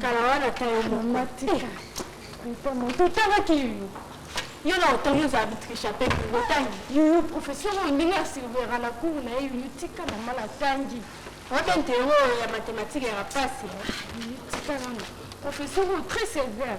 kala wana ata yo mama tika totangaki yuyu yo na otangi ozala bitricha mpe otangi yuyu professeur oyo ndenge asilvera na cour na ye yuyu tika mama natangi wabente yango ya matematike ya mpasi tika nano professeur oyo très sévère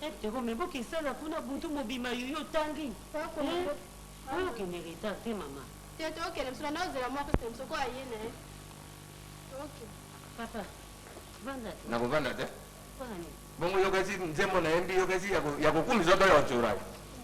Eh Pierrot mais bo kesana kuna butu mobima yo yo tangi. Ba ko eh? Oyo kende retard te mama. Te to kende msula na ozela mwa kese msoko aye na ye. Ok. Papa. Vanda te. Na ko vanda te. Pona nini? Bongo yo kasi nzembo na yembi yo kasi ya ko ya ko kumisa to ya ko tsora.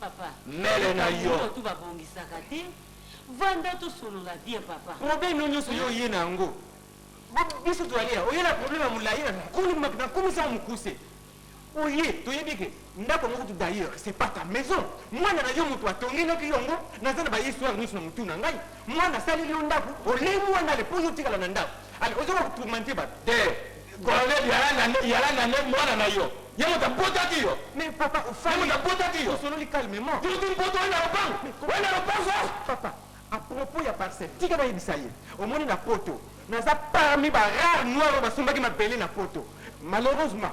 Papa. Mele na yo. Makambo oyo tout ba bongisaka te. Vanda to solola bien papa. Problème no nionso yo oye na yango. Biso to alia oye na problème ya mulayi na nkolo na kumisi yango mukuse. Oye to yebi ke ndaku yango kutu d'ailleurs c'est pas ta maison. Muana na yo mutu a tongenoki yo yango. Naza na ba histoire nionso na mutu na ngai. Mwana asaleli yo ndaku olemu wana le po yo otikala na ndaku ale ozoka kotourmente bato te colonel yala na nde mwana na yo ye moto abotaki yo mais papa ofali moto abotaki yo osololi calmement tutu mpoto wana lopango wana lopango papa a propos ya parcelle tika nayebisa ye omoni na poto naza parmi ba rare noir oyo basombaki mabele na poto malheureusement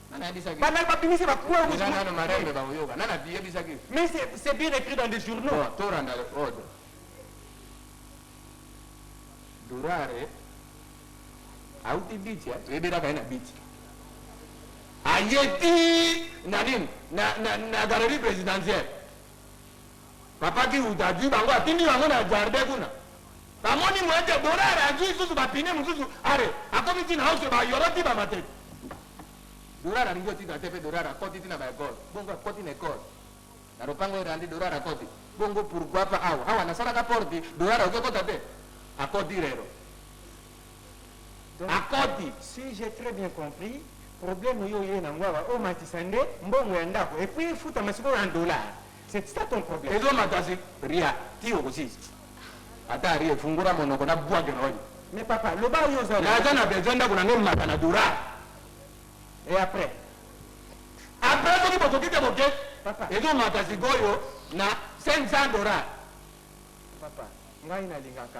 Ba nani ba bimisi ba preuves Eza mosusu? nano marembe bakoyoka nani abiyebisaki yo Mais c'est c'est bien écrit dans des journaux. Bon, tolanda le ordre. Durare auti biti eh, toyebelaka ye na biti aye ti na nini na, na, na galerie présidentielle Papa kihuta azui bango atindi bango na jardin kuna ba moni moyen te dorare azui susu ba pine mususu are akomi ti na house ba yoro ti ba matete dorare alingi otika te pe dorare akoti ti na ba ecole bongo akoti na ecole na lopango erandi dorare akoti bongo pourquoi pa awa awa nasalaka porte dorare ozo kota te akoti rero akoti. Si j'ai très bien compris, problème yo oye nango awa omatisa nde mbongo ya ndako et puis efutama sikoyo en dollars c'est ça ton problème? Ezo mata si ria ti okosilisa ata ria fungola monoko na bwake na yo. Mais papa loba oyo oza na. Naza na besoin ndako na nga emata na dollars. Et après? Après soki bokoki te boke Papa. ezo mata sikoyo na 500 dollars. Papa ngai nalingaka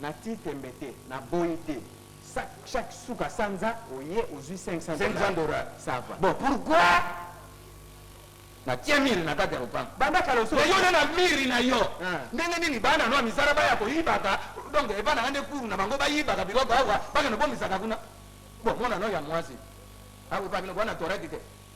Na tii tembe te, na boyi te sa chaque suka sanza oye ozui 500 dollars. 500 dollars. Ça va. Bon pourquoi na tie mur na kati ya lopango? Banda kala osi Mais yo na na mur na yo Ah. ndenge nini bana na yo ya misala baya koyibaka donc epa na nga nde cour na bango bayibaka biloko awa bakende bomisaka kuna? Bon mona na yo ya muasi akoyeba bino bana toraki te?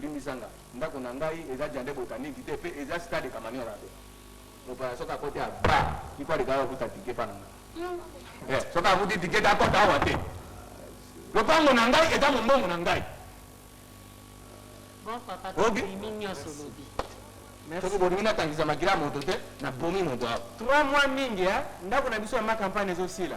limbisa nga ndako na ngai eza jande botanique te pe eza stade kamanyola te mopaya soki akoti a ba il faut aleka okuta tike pa na nga eh, soki akuti tike te akota awa te lopango na ngai eza mombongo na ngai bon papa okay. tobimi nyonso lobi soki bolingi natangisa makila moto te nabomi moto awa trois mois mingi ndako na biso ya makampane ezosila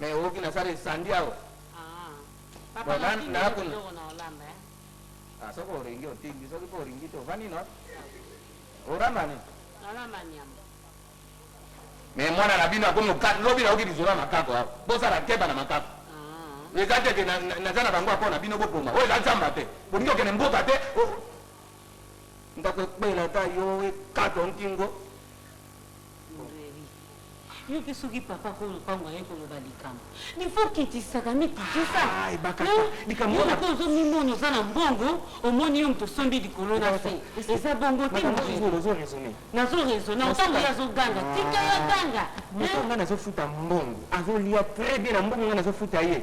Mais oyoki na sala esandi awa. Ah. Papa na tindi yo biloko na olamba eh. Ah soki olingi otindi soki po olingi te ovandi no. Oramba ni? Nalamba nyama. Mais mwana na bino akomi okati lobi na oki bizola makako awa. Bosala keba na makako. Ah. Eza te ke naza na bango apo na bino boboma. Oyo eza nzamba te. Bolingi okende mboka te. Ndako ekpela ta yo ekato nkingo. Librairie yo pe soki papa ko lopango aye koloba likambo il faut kitisaka mi kitisa Ah, ebakata. hein? Likambo yo wana- pe ozo mimona oza na mbongo omoni yo moto osombi likolo na se eza bongo te Madame, mon toujours, chéri. ozo raisonner. nazo raisonner Nasuka- ntango ye azoganga tika ye aganga Moto nga nazofuta mbongo azolia très bien na mbongo nga nazofuta ye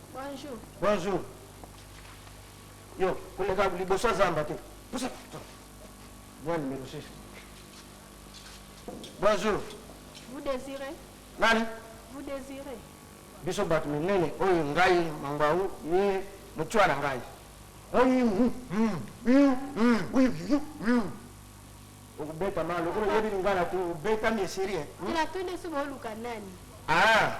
Bonjour. Bonjour. Yo, koleka liboso ya zamba te. Pusa. Moi numéro 6. Bonjour. Vous désirez? Nani? Vous désirez? Biso bato minene oyo ngai mangau ye motua na ngai. Okubeta ma lokola oyebi lingala te obetami esiri. Tela to nde soki oluka nani? Ah.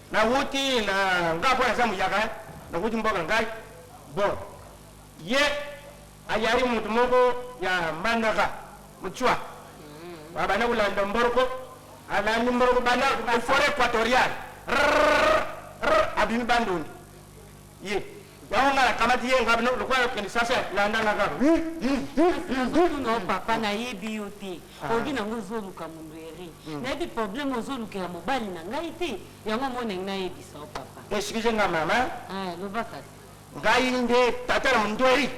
Na wuti na nga po naza muyaka na wuti mboka ngai bon ye ayali mutu moko ya mbandaka mutswa abanda kolanda mboroko alandi mboroko banda foret equatoriale rrrr abimi bandundu Ye. Yango nga nakamati ye nga bino lokola na Kinshasa landa nga kaka. Non papa nayebi yo te olobi nango ozoluka mundueri nayebi problème ozolukela mobali na ngai te yango omonengi nayebisa yo papa. Excuse nga mama. Eh loba kasi. Ngai nde tata na mundueri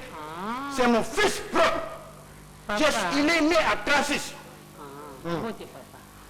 c'est mon fils propre. Papa. Il est né à 36. Ah mbote papa.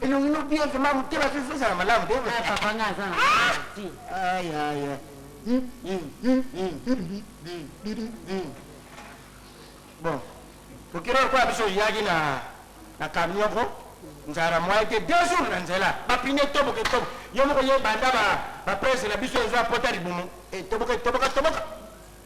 Elongi no bien vraiment motema pe faut ezala malamu te. Ah papa nga aza na merci. Aïe aïe. Bon. Kokira kwa biso yaki na na camion ko nzara moyen te deux jours na nzela bapine toboke tobo yo moko ye banda ba ba presse na biso ezwa pota libumu e toboke toboka toboka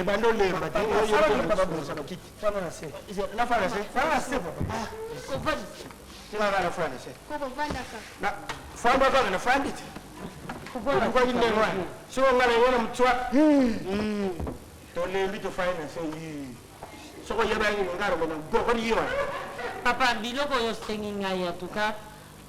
ebanda olemba te fanda kaka na fandi te okoki ndenge wana soki onga na yo na mtswa tolembi tofai na se soki oyebaki ngaro mena bokoli yo papa biloko oyo osengi ngai atuka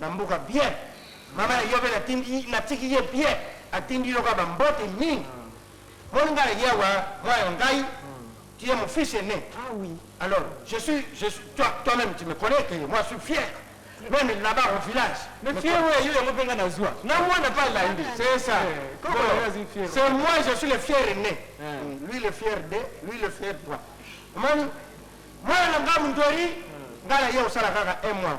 Na mboka bien maman na yope na tindi na tiki ye bien atindi yo ka ba mbote mingi mon nga ye awa mwana na ngai tu es mon fils aine alors je suis je suis toi toi meme tu me connais que moi suis fier meme là bas au village mais fier oyo yo yango pe nga na zua na mwana pa landi c'est ça c'est moi je suis le fier aine lui le fier de lui le fier toi omoni mwana na nga mundori nga na ye osala kaka un mois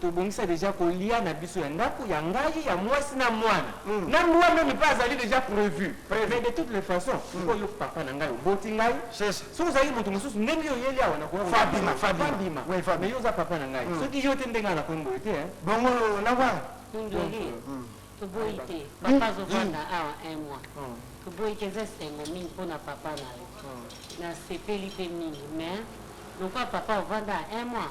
Tobongisa dejà kolia na biso ya ndaku, ya ngai, ya muasi na muana. Na mbua meme pe azali dejà prevu. Mais de toutes les façons, sikoyo yo papa na ngai oboti ngai. Soki ozalaki mutu mosusu ndenge yo oyeli awa nakoya koyeba te. Fabima, Fabima. Mais yo oza papa na ngai. Soki yo te nde ngai nakomi boye te hein. Bongo na wana? Mundele, toboyi te papa azo vanda awa un mois. Toboyi te eza esengo mingi pona papa na yo. Nasepeli pe mingi mais lokola papa ovanda awa un mois,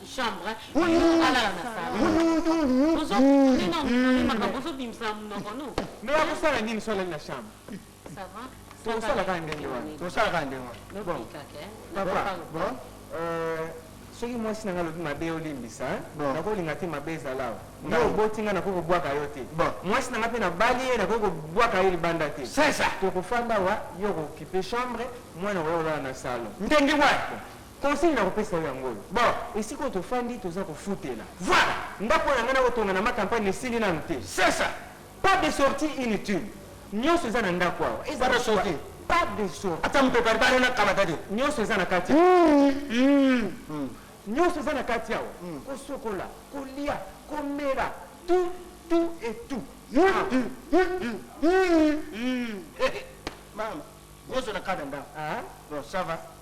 chambre yo alala na salon ozo nina nina makambo ozo bimisa munoko no mais akosala nini so alali na chambre ça va tokosala kaka ndenge wana tokosala kaka ndenge wana bon papa bon euh, soki mwasi na ngai alobi mabe olimbisa nakolinga te mabe ezala awa nga oboti ngai nakoki kobwaka yo te mwasi na ngai mpe nabali ye nakoki kobwaka ye libanda te tokofanda awa yo okokipe chambre mwana okolala na salon ndenge wana Conseil na kopesa yo yango oyo, bon esika oyo tofandi toza kofutela voila ndaku oyo na ngai nako tonga na ma campagne esili nanu te c'est ça pas de sortie inutile nionso eza na ndaku awa eza pas de sortie pas de sortie ata moto par bare na kamata te nionso eza na kati nionso eza na kati awa kosokola kolia komela tout tout et tout mama nionso na kati ya ndaku bon ça va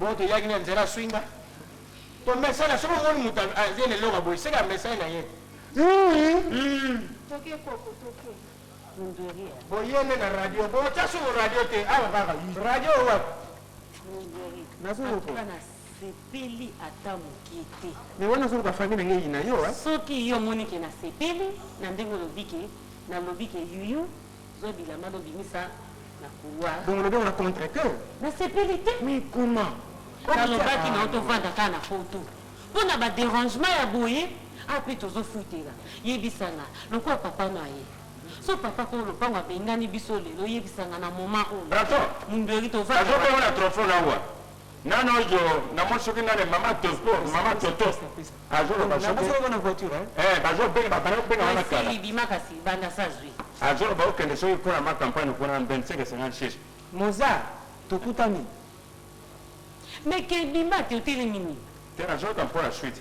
Bon toyaki na nzela swinga tomesana soki omoni moto azie na eloko boye seke amesani na ye boye nde na radio botya soko radio te awa kaka radio wapi nasepeli ata moke te me wana soko bafami na ngei na yo soki yo omoni ke nasepeli na ndenge olobi ke nalobi ke yuyu Zwa bilamba no bimisa na couloir. Bongo olobi yango na contre te? Na sepeli te. Mais comment? Na lobaki na yo to vanda kaka na poto po na ba derangement ya boye awa pe tozo futela. Yebisa nga lokola papa no aye soki papa kolo lopango abengani biso lelo yebisa nga na moment oyo. Braton! Mundueri to vanda wapi? Nazo komona trophon na wa Nano yo na moni soki nane maman toto maman toto azo loba soki eh bazo benga ba bana benga wana kala bima kasi banda sa zui azo loba okende soki kuna ma campagne kuna 25 et 56 moza tokutani mais ke bima te oteli mini te na zoka mpo na suite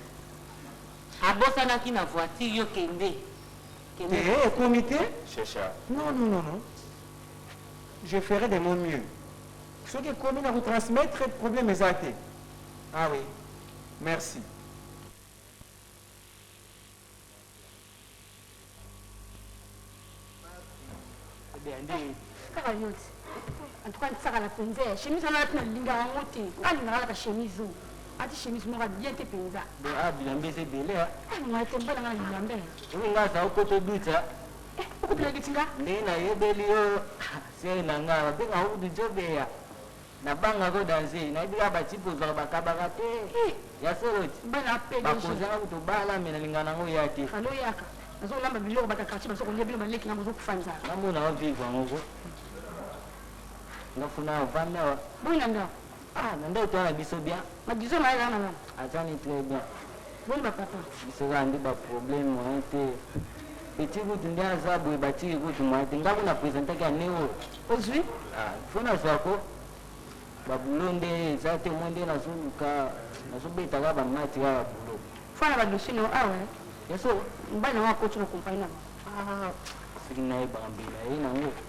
abosanaki na voiture yo kende kende eh comité c'est ça non non non non je ferai de mon mieux Soki ekomi nako transmettre problème eza te ah oui merci. Kaka yo ti en tout cas nsakala mpenza ya chemise wana alati nalingaka yango te nga alingaka alaka chemise oyo ati chemise moko bien te mpenza ah bilamba eza ebele ngai te mbala ngai bilamba nga aza okota oduta okopela duti nga ndenge nayebeli yo Chere na nga ba benga ourdi djo beya na banga ko danze nayebi kaka ba type ozwaka ba kabaka te eh ya solo ti ba konzi nga kutu obala mais na lingaka na ngo oya te fallait oyaka nazo lamba biloko bata quartier bazo kolia bino ba leki nga bozo kufa nzala nga mona o vivre ngo ko nga funa ovanda wa boyi na nga. Ah na ndoto wana biso bien. Na biso naye wana nani? Azani très bien. Boni ba papa? Biso kaka nde ba problème moyen te. Petit kutu nde aza boye batiki kutu moyen te. Nga kutu na presentaki ya Neo. Ozui? Ah il faut nazua ko. Ba boulot nde eza te omoni nde nazo luka nazo beta kaka ba match kaka ya boulot. Fana ba dossier nao awa hein. Ya solo? Mobali na nga akoti na compagnie na bango. Ah soki nayebaka mbela ye na ngo.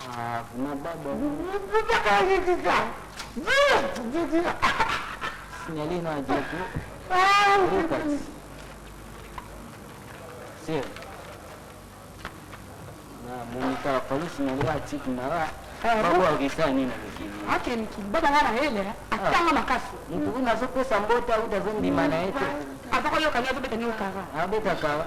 Ah, vraiment baba. Signaler na Diego. Reparti. Sir. Na monika fali signaler ba type na ba. Babo akisa nini na mikili. Ake mikili baba ngana hele atanga makasi. Mutu kuna azopesa mbota uta azondima na ye te. Azakoyoka nini azobeta nini kara. Abeta kara.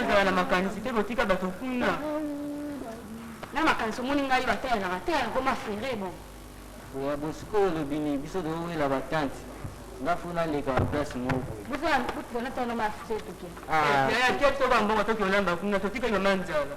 ozala na makanisi te botika bato kuna na makanisi omoni ngai bateyelaka te akoma fere bon ya bosikoyo olobi nini biso towela batante nga fo naleka na place moko bozala botikana tano mafre toke toba mbongo toki olamba kuna totika yo manzala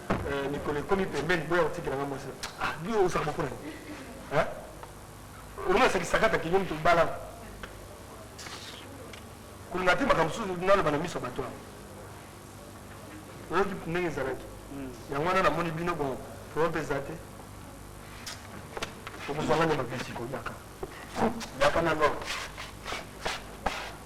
Eh, mikolo ekomi pembeni boya kotikela nga mwasi ah, bi osaka moko nani eh? olona sakisakata kinyo moto obala kolinga te makambo mosusu naloba na miso ya bato awa oyoki ndenge ezalaki hmm. yango wana namoni bino bon problème mpe eza te okozwanga nde makasi koyaka yaka na lor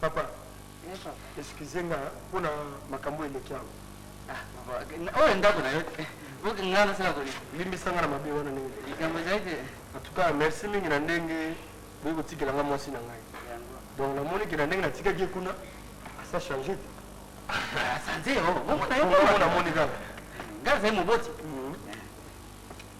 Papa excuse nga pona makambu eleki awa. Ah papa oyo ndaku nayo te po ke nga nasala ko nini. Limbisa nga na mabe wana ndenge eleki. Likambo ezali te. En tout cas merci mingi na ndenge boye kotikela nga mwasi na ngai. Donc namoni ke na ndenge natikaki ye kuna asi a changer te. Aza nzee oh bongo nayo. Bongo namoni kaka. Nga nazali moboti.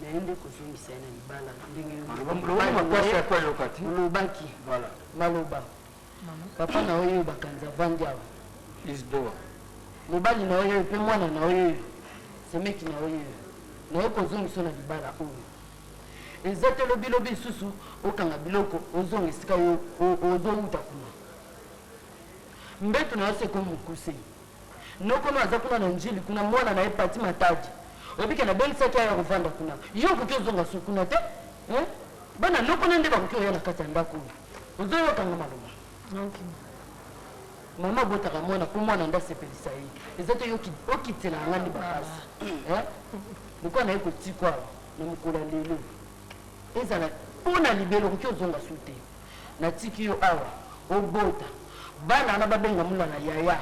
naye nde kozongisa ye na libala ndenge olobaki maloba papa na oyo bakanzi avandi awa lisboa mobali na oyo mpe mwana na oyo semeki na oyo naye kozongisa na libala oyo eza te lobilobi lisusu okanga biloko ozonga esika ozowuta kuna mbetu na yo se ekomi mokuse Noko no aza kuna na Ndjili kuna mwana naye Pathy Matadi oyebi ke nabengisaki aya kovanda kuna yo okoki ozonga sur kuna te hein bana noko no nde bakoki koya na kati ya ndaku oyo ozoyoka nga maloba Nokima. Maman abotaka mwana po mwana nde asepelisa ye eza te yo okitela nga nde ba pasi hein lokola naye kotikua awa na mokolo ya lelo ezala po na libela okoki ozonga sur te Na tiki yo awa obota bana wana ba benga mulala yaya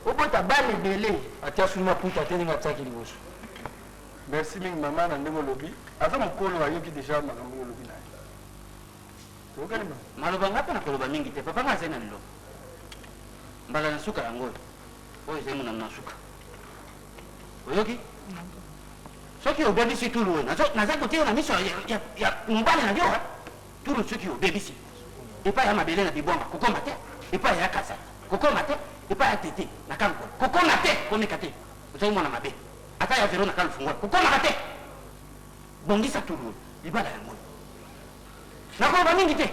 obota bana ebele. Atia sous maputa te ndenge atiaki liboso. Merci mingi maman na ndenge olobi aza mukolo ayoki dejà makambo oyo olobi naye toyokani maman. Maloba nga pe nakoloba mingi te papa nga azali na liloba mbala na suka yango oyo oyo ezali monano na suka oyoki soki obebisi tulu oyo naza kotiyo na miso ya mobali na yo. Tulu soki obebisi epai ya mabele na bibwama kokoma te, epai ya kasa kokoma te, epai ya tete na kalukola kokoma te, komeka te ozali mwana mabe, ata ya velo na kalufungola kokomaka te, bongisa tulu oyo libala ya ngolu. Nakoloba mingi te,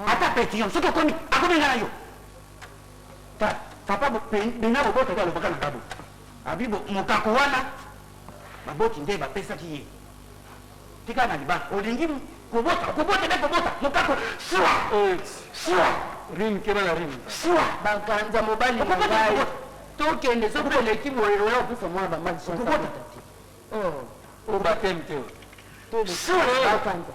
ata petition soki okomi akobengana yo ta papa bena boboto te alobaka na babu abi mokako wana baboti nde bapesaki ye Tika na libala olingi kobota okobota nde kobota mokako siwa siwa rim keba na rim siwa bakanza mobali na ngai tokende soki oleki boye oya okufa mwana bamani okobota te o batem te siwa bakanza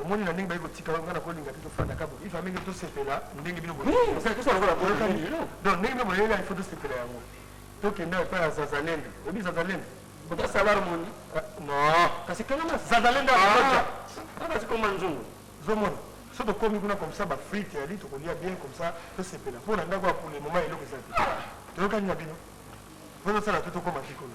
Omoni na ndenge baye kotika yo nga na kolinga te tofanda ka boye il fallait ndenge tosepela ndenge bino boyokani donc ndenge bino bolela il faut tosepela yango tokenda epai ya zazalendo oyebi zazalendo ota salar moni non kasi kengama zazalendo akoja kasi koma nzungu zomona so tokomi kuna comme ça bafrite yali tokolia bien comme ça tosepela mpo na ndako ya pule moma eloko eza te toyokani na bino ozosala te tokoma te kuna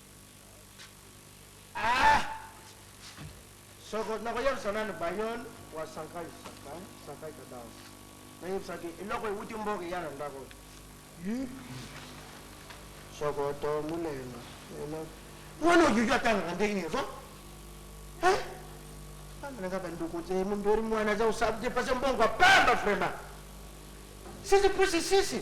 Aah soko nako yebisa nanu Bayon wa Sankay Sankay Sankay Cadence na yebisa ke eloko ewuti mboka eya na ndako oyo Yii soko to mulenga eloko Wana oyoyo atangaka ndenge nini ozo Hein Bana nanga ba ndeko te Mumberi muana aza osabu te pase mbongo ya pamba vraiment Sisi pusi sisi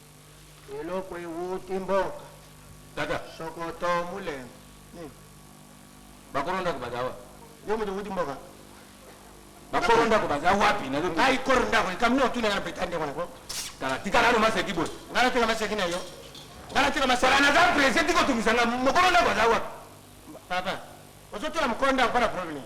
Eloko ewuti mboka. Tata. Sokoto mulembe. Nini? Bakolo ndako baza wapi? Yo mutu ewuti mboka. Bakolo ndako baza wapi? Nazo Ngai kolo ndako likambo nini otuna na beta ndeko na ko? Tala tika nanu maseki boye. Ngai natika maseki na yo. Ngai natika maseki. Tala naza presse tika otungisa nga mokolo ndako aza wapi? Papa, ozo tuna mokolo ndako pona problème nini?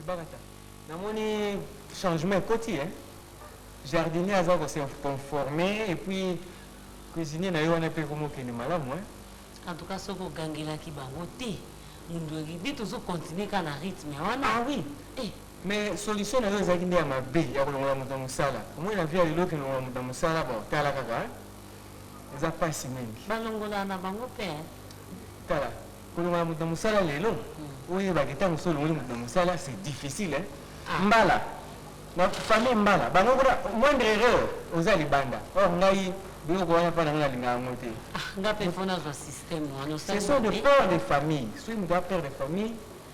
Ebakata namoni changement ekoti hein jardinier aza ko se conformer et puis cuisinier nayo wana pe ekomi kokende malamu hein. En tout cas soki ogangelaki bango te mundu eribi tozo continuer kaka na rythme wana ah oui eh. Mais solution nayo ezalaki nde ya mabe ya kolongola mutu na musala omoni na vie ya lelo kilongola mutu na musala bon tala kaka hein eza pasi mingi. Balongola na bango pe hein. Tala. Kolongola moto na mosala lelo oyeba ke tango osi olongoli moto na mosala c'est difficile hein mbala na famille mbala bango kuna moindre erreur oza libanda or ngai biloko wana epa na ngai nalingaka yango te Nga pe il faut nazwa système wana ce osali sont de mabe père de famille soki moto aza père de famille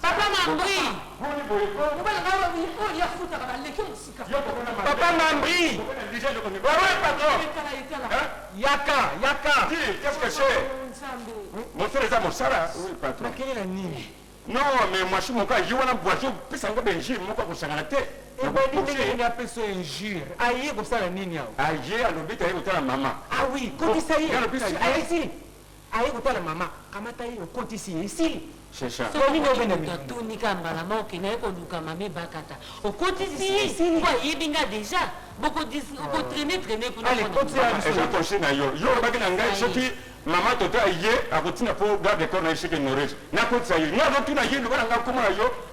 Papa Mambri Papa Mambri Yaka Yaka Qu'est-ce que c'est Mon frère eza mosala Oui patron Makelela nini Non mais mwasi moko ayi wana boisson pesa ngo benji moko akosangana te ebandi ndenge nini apesa yo injure aye kosala nini awa aye alobi taye kotala mama ah oui kotisa ye alobi ayesi Aye kotala mama kamata ye okotisi ye esili. Soki okoki mutu atuni kaka mbala moko ke naye koluka mama ebakata okotisi ye po ayebi nga deja boko traine traine kuna pona mama. Eza conseil na yo yo olobaki na ngai soki mama toto aye akotinda po garde corps naye esi ke ignorer nakotisa ye nga nazotuna ye loba na nga kombo na yo.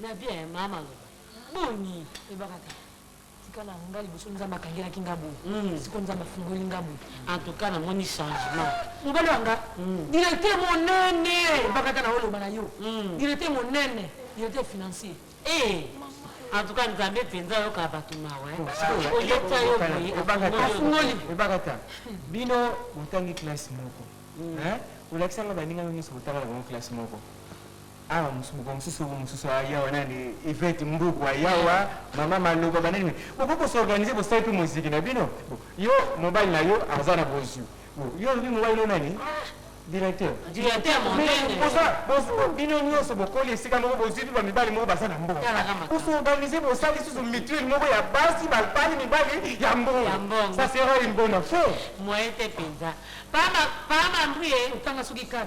Na vie hein ma maloba boni yebaka kaka tika na nga liboso nzambe akangelaki nga boye sikoyo nzambe afungoli nga boye en tout cas na moni changement mobali wa nga directeur monene yebaka kaka na oloba na yo directeur monene directeur financier eh en tout cas nzambe mpenza ayoka bato mawa oyebisa yo boye afungoli ebakata bino botangi classe moko olakisanga baninga yo nyonso botanga na bango classe moko Awa musubuka mususu oyo mususu aya yawa nani Yvette Mbuku ayawa maman maloba banani mais bokoki ko s'organiser bosali pe moziki na bino bon yo mobali na yo aza na bozwi bon yo olobi mobali no nani directeur Directeur monene boza boza bino nionso bokoli esika moko bozwi pe ba mibali moko baza na mbongo Tala ka makambo. ko s'organiser bosali lisusu mutuelle moko ya basi balpali mibali ya Ya mbongo mbongo. ça sera une bonne affaire Moyen te penza. Pama pama mbuye otanga soki kaka.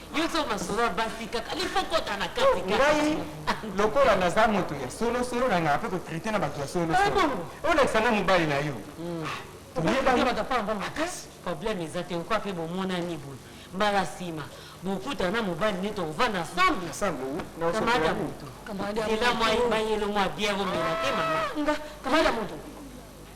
Yo oza masolo ya basi kaka il faut kota na kati kaka. Ngai lokola naza moto ya solo solo na ngaka pe ko traiter na bato ya solo Ah solo. bon? Olekisa nga mobali na yo. Toyebani. problème eza te okwa mpe bomonani boye mbala nsima bokutana na mobali nde tokovanda ensemble Ensemble, oui. Na osolo kamata ya moto Kamata ya ela moto. mwa mayelo mwa bière omela te mama Nga, kamata moto.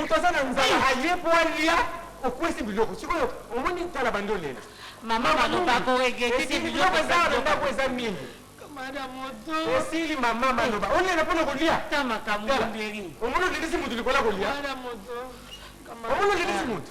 moto aza na nzala aye mpo alia okwesi biloko sikoyo omoni tala bandi olela biloko eza na ndako eza mingi osili mama maloba olela mpo na kolia omoni olelisi moto likolo ya kolia omoni olelisi moto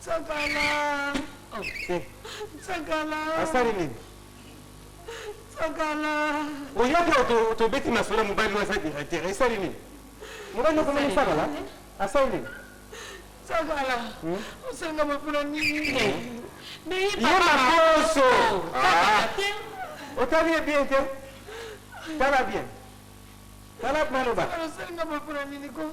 Nsakala. Nsakala. Asali nini? Nsakala. Oyoki oyo tobeti masolo mobali waza directeur esali nini? Mobali okomoni Nsakala? Asali nini? Nsakala. Hmm? Osenga mapula nini? Hmm. Mais il parle makoso. Otali ye bien te? Tala bien. Tala maloba. Osenga mapula nini ko?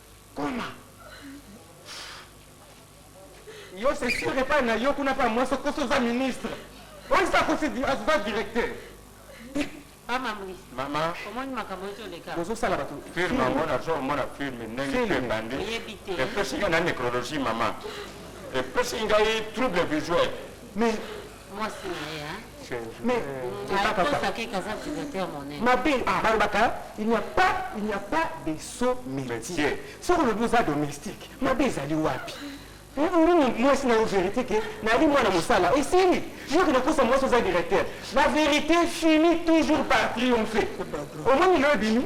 Koma. Yo c'est sur epai na yo kuna pa mwasi okosi oza ministre oyo esi akosi aza directeur bozo sala bato film yango nazo omona film ndenge mpe ebandi epesi nga na necrologie mama epesi ngai trouble visuel mais mwasi na ye hein mais akosaki kaza utilisateur monene mabe balobaka il n'y a pas il n'y a pas de saut métier soki olobi oza domestique mabe ezali wapi nini mwasi na yo vérité ke nayali mwana mosala esili yoki nakosa mwasi oza directeur la vérité finit toujours par triomphe omoni lelo ebimi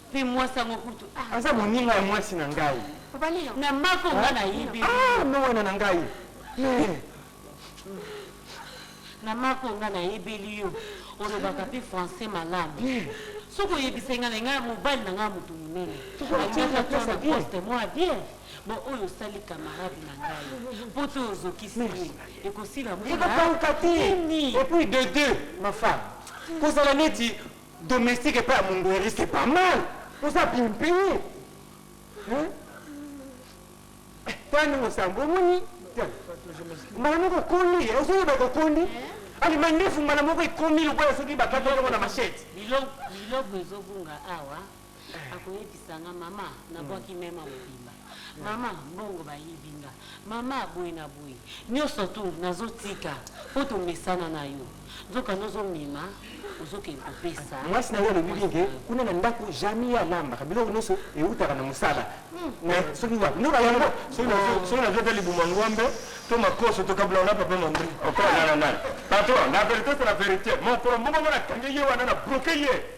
Pe mwasi yango kutu ah. Aza moninga ya mwasi na ngai. Obali yo. Na mako nga na yibi. Ah, no wana na ngai. Mais. Na mako nga na yebeli yo. Olobaka pe français malamu. Soki oyebisa nga na nga mobali na nga moto monene. Alingaka to na poste mwa bien. Bon, oyo osali camarade na ngai. Po to ozokisi ye. Ekosila mbula. Ekokauka te. Et puis de deux, ma femme. Kozala neti Domestique epai ya Mungueri c'est pas mal. Oza bien paye. Hein? Tani mosambo omoni mbala moko okoli eh, ozoyeba kokoli eh? ali mandefu mbala moko ekomi lokola soki bakati yango na machete biloko ezobunga awa akoyebisa nga mama nabwaki mema mobimba mama mbongo bayibi nga mama boye na boye nioso tout nazotika po tomesana na yo nzokande ozomema ozokende kopesa mwasi na yo alobi bien ke kuna na ndaku jamais ye alambaka biloko nioso ewutaka na musala mais soki wapi nzoka yango soki nazwi ata libumu ya ngombe to makoso tokabulaka na papa mandri okola nana nana patron na verite c'est la verite mokolo moko nga nakangi ye wana na bloke ye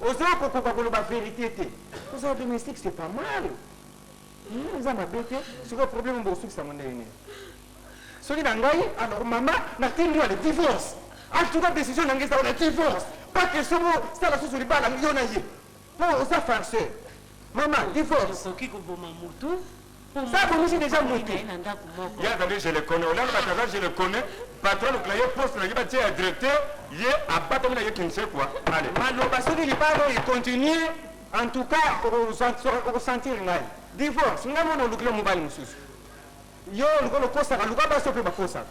Oza kokoka koloba verite te. Kozala domestique c'est pas mal hum eza mabe te sikoyo problème oyo bokosukisa yango ndenge nini? Soki na ngai alors mama natindi yo na divorce en tout cas decision na ngai eza wana divorce pas question bosala susu libala yo na ye po oza farceur mama divorce. Okoki koboma mutu. po mwana na ye afandaki na ye na ndaku moko. Ye azali je le connais, olanda batu aza je le connais, patron alukela ye poste na ye ba tie ya directeur, ye abatami na ye kinsekwa, allez. Maloba soki libala oyo e continuer en tout cas oko sentir ngai. Divorce ngai mwana olukela yo mobali mususu. Yo lokola okosaka luka basi oyo pe bakosaka.